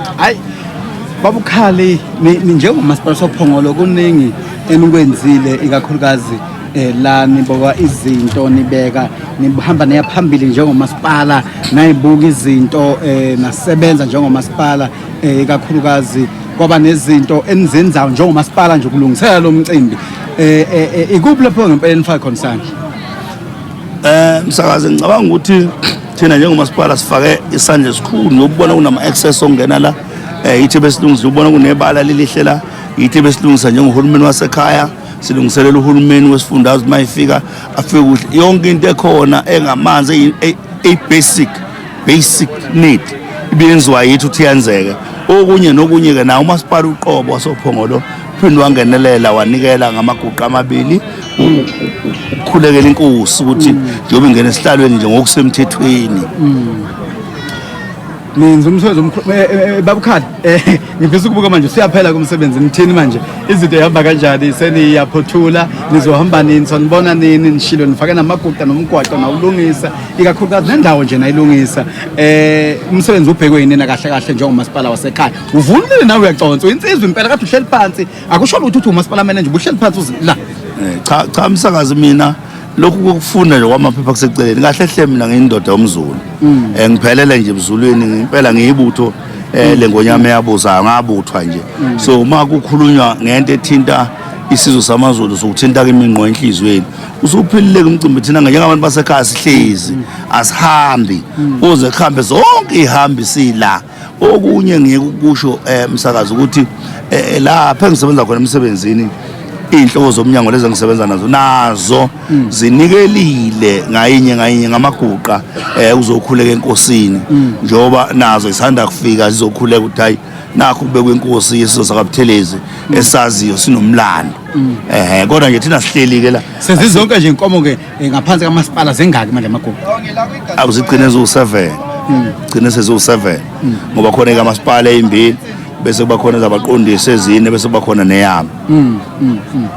hayi babukhali njengomasipala sophongolo kuningi enikwenzile ikakhulukazi eh, la niboka izinto nibeka nihamba neya phambili njengomasipala nayibuka izinto eh, nasebenza njengomasipala eh, ikakhulukazi kwaba nezinto enizenzayo njengomasipala nje ukulungisela lo mcimbi eh, eh, eh, ikuphi lapho ngempela enifaka khona sandla eh msakazi ngicabanga ukuthi Thina njengomasipala sifake isandla esikhulu nokubona kunama-access okungena la um yithi besilungisa ukubona kunebala lilihle la yithi besilungisa njengohulumeni wasekhaya silungiselela uhulumeni wesifundazwe uma efika afike kuhle yonke into ekhona engamanzi eyi-basic basic need ibiyenziwa yithi ukuthi yenzeke okunye nokunye-ke nawo umasipala uqobo wasophongolo phinde wangenelela wanikela ngamaguqa amabili ukhulekela inkosi ukuthi njengoba ingena esihlalweni nje ngokusemthethweni ninzi umsebenzi omkhulu eh, eh, eh, babukhala ngifisa ukubuka manje siyaphela kumsebenzi nithini manje izinto ihamba kanjani seniyaphothula nizohamba nini sonibona nini nishilo nifake namaguqa nomgwaqo nawulungisa ikakhulukazi nendawo nje nayilungisa um umsebenzi ubhekwe yinina kahle kahle njengomasipala wasekhaya Uvulile nawe uyaconsa insizwa impela kade uhleli phansi akusho lutho ukuthi umasipala manager ubuhleli phansi uzi- la Eh, cha cha msakazi mina lokhu kokufunda nje kwamaphepha kuseceleni kahle hle mina ngiyindoda yomzulu Eh, ngiphelele nje emzulwini ngempela ngiyibutho eh, lengonyama eyabuzayo ngabuthwa nje so uma kukhulunywa ngento ethinta isizwe samazulu sokuthinta kimi ngqo enhliziyweni usuphilile kumcimbi thina njengabantu basekhaya sihlezi asihambi kuze kuhambe zonke ihambi sila okunye ngeke ukusho eh, msakazi ukuthi eh, eh, lapha engisebenza khona emsebenzini iy'nhloko zomnyango lezi engisebenza nazo nazo mm. zinikelile ngayinye ngayinye ngamaguqa um ukuzokhuleka enkosini mm. njengoba nazo zisanda kufika zizokhuleka ukuthi hhayi nakho kubekwe inkosi yeso sakabuthelezi mm. esaziyo sinomlando ehe kodwa nje thina sihleli-ke la sezizonke nje inkomo-ke Eh, ngaphansi kamasipala zingaki manje amagugu akuzigcine ziwu-seven gcine seziwu-seven ngoba khona ekamasipala eyimbili bese kuba khona zabaqondisi ezine bese kuba khona neyami